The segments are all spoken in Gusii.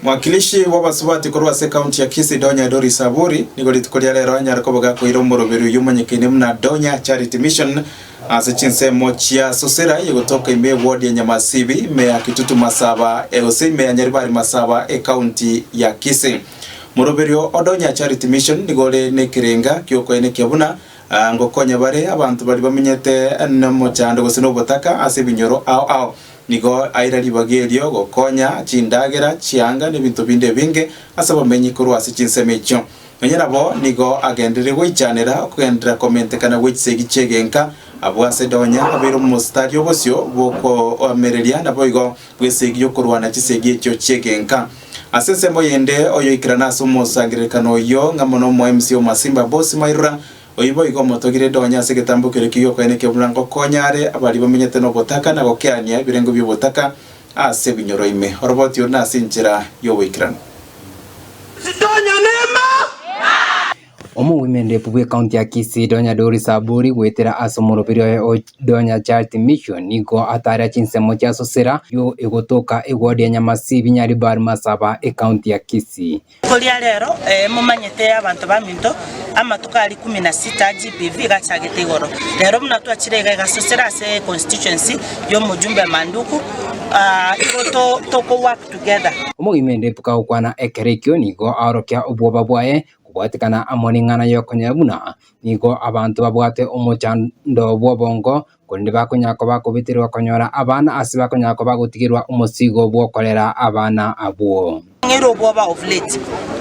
Mwakilishi bw'abasubati korwa ase ekaunti ya Kisii, Donya Doris Aburi, nigo rituko ria rero anyare koba gakoeire omoroberi oyio omonyekaine buna Donya Charity Mission ase chinsemo chia Susira ye gotoka ime ewodi ya Nyamasibi, ime ya Kitutu Masaba, e gose ime ya Nyaribari Masaba ekaunti ya Kisii. Moroberio o Donya Charity Mission nigo ore nekerenga giokoenekia buna ah, ngokonya bare abanto bari bamenyete nomochando gose nobotaka ase ebinyoro ao ao. Nigo aira ribaga erio gokonya chindagera, chianga, nebinto binde ebinge ase abamenyi korwa ase chinsemo echio. Nonya nabo nigo agenderire goichanera okogenderera komentekana gwe chisegi chi'egenka. Abwo ase Donya abeire omositari o bosio bw'okoamereria naboigo bw'esegi y'okorwana chisegi echio chi'egenka. Ase ensemo yende oyoikerana ase omosangererekano oyio ng'a mono omoemsi o Masimba Boss Mairora, Oyio boigo omotogire rende onye ase egetambo keria ke'okwena ekia omorango, konya are abaria bamenyete nobotaka na gokeania ebirengo bi'obotaka ase ebinyoro ime oroboti ore nase enchera y'oboikeranu. Omogwemberefu bw'ekaunti ya Kisii Donya Doris Aburi goetera ase omoroberi oye o Donya Charity Mission nigo ataare chinsemo chia Susera yo egotoka egodi ya Nyamasibi Nyaribari Masaba, ekaunti ya Kisii. Koria rero, ee, momanyete abanto baminto, amatuko aria ikumi na sita GBV egachagete igoro. Rero buna twachire iga egasosera ase econstituency y'omojumbe Manduku, ah, igo to toko work together. Omogima ende ebuka gokwana ekero ekio nigo aorokia obwoba bwaye kobwatekana amo neng'ana y'okonyora buna nigo abanto babwate omochando bw'obongo korende bakonyara koba akobeterwa okonyora abana ase bakonyara koba agotigerwa omosigo bw'okorera abana abwo. Ng'eire obwoba of late,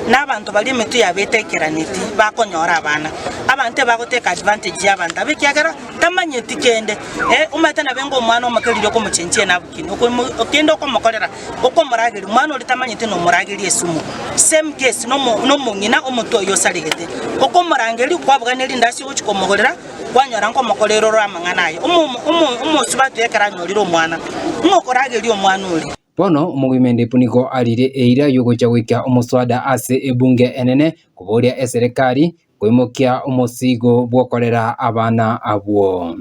na abanto baria emetwe yabo etaikeranitie bakonyora abana. Abanto ebagoteka advantage ya abanto aba ekiagera tamanyeti kende. Eh, omanyete nabo enga omwana omoke riria okomochenchia enabukini, okomo- kende okomokorera, okomorageria, omwana oria tamanyeti nomorageria esumu. Same case nomo- nomong'ina, omonto oyo osaregete, okomorangeria, kwabuganire rindaasi ogochia komogorera. Kwanyora nkomokorera ore amang'ana aya, omosubati ekero anyorire omwana, ng'a okorageria omwana oria. Bono omogwimende punigo arire eira yogocha goika omoswada ase ebunge enene koboria eserekari koimokia omosigo bw'okorera abana abwo.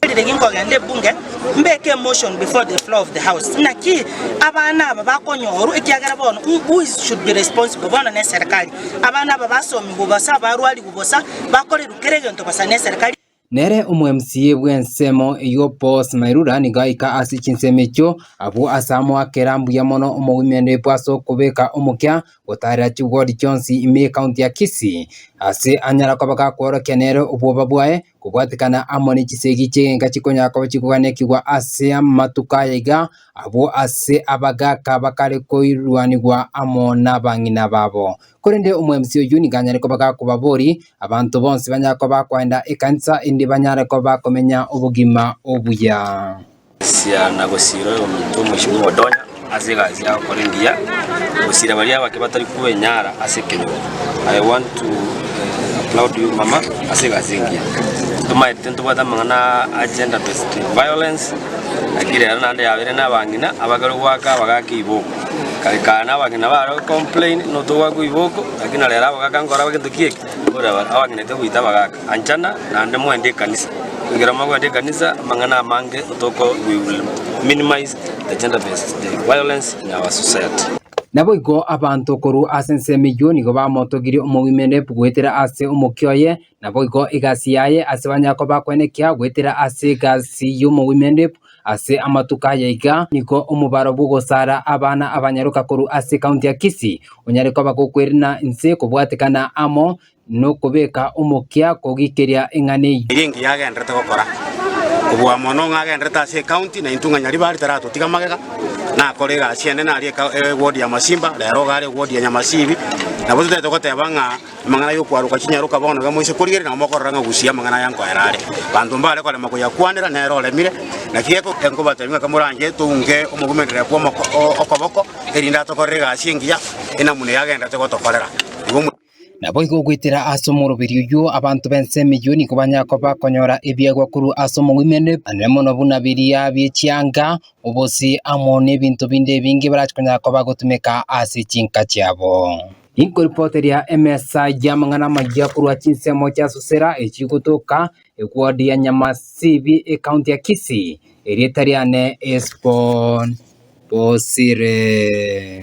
Narire ki nkogenda ebunge mbeke emotion before the floor of the house, naki abana aba bakonyorwa ekiagera bono who is should be responsible bono neserekari. Abana aba basomigwe bosa abarwarigwe. bosa, bakorirwa kera egento bosa neserekari. Nere omwemsiyi bw'ensemo eyio Paul's Mairura nigo aika ase chinsemo echio. Abwo ase amoakera mbuya mono omogwimendo Epo ase okobeka omokia gotaarera chibwodi chionsi ime y'Ekaunti ya Kisii ase anyara koba gakworokia nere obwoba bwaye kobwatikana amo ne chisegi chi'egenka chikonyara koba chigoganekigwa ase amatuko aya iga abwo ase abagaaka bakare koirwanigwa amo nabang'ina babo. Korende omwemsi oyio nigo anyare koba gakobabori, abanto bonsi banyare koba bakoenda ekanisa, endi banyare koba bakomenya obogima obuya. Sisira na gosiira oyominto omochie bw'omodonya ase egasi y'agokora engiya, gosiira baria abake batari kwenyara ase ekenyoro. I want to eh, applaud you mama ase egasi engiya. Tomaete ntobwate amang'ana a gender based violence, lakini rero naende yabere nabang'ina abakerwe goaka abagake iboko. Nkaikana abang'ina bare gocomplain notogwa agwo iboko, lakini na rero abagaka nkoraba gento ki eke, mbore aba- abang'inete goita abagaka. Anchana naende moende ekanisa. Ekero mogoenda ekanisa, amang'ana amange otoko we will minimize the gender based the violence in our society. Naboigo abanto korwa ase ensemo eyio nigo bamotogirie omogwimerereku goetera ase omokia oye, naboigo egasi yaye ase banyakoba kwene ekiago goetera ase egasi y'omogwimerereku. Ase amatuko aya iga nigo omobaro bw'ogosaara abana abanyaroka korwa ase ekaunti ya Kisii onyare koba gokwerina inse kobwatekana amo nokobeka omokia kogikeria eng'ana eyio. Nigo engiya agenderete gokora, kobua mono ng'a agenderete ase ekaunti na intwe ng'a Nyaribari taratotiga magega, nakore egasi ende nari eka ewodi ya Masimba, rero iga are ewodi ya Nyamasibi, nabo totaete goteba ng'a Amang'ana y'okwaroka chinyaroka bono iga moise korigereria nabo mokorora ng'a gusii amang'ana aya nkoera are. Abanto mbare korema koyakwanera nere oremire. Naki geko nkobatebie ng'a komoranche tounke omogomenderere kw'omoko o okoboko, erinde atokorere egasi engiya ina buna eye agendete gotokorera. Igo mwa. Naboigo goetera ase omoroberio oyio abanto b'ense emeyio nigo banyare koba konyora ebiegwa korwa ase omogoimerere, anene mono buna biria bie chianga, obosii, amo n'ebinto binde ebinge barache konyara koba gotumeka ase chinka chiabo. Inkoripoteria emesa y'amang'ana amayia korwa chinsemo chia Susera echigotoka egwandi ya Nyamasibi, ekaunti ya Kisii. Erieta riane Esbon Bosire.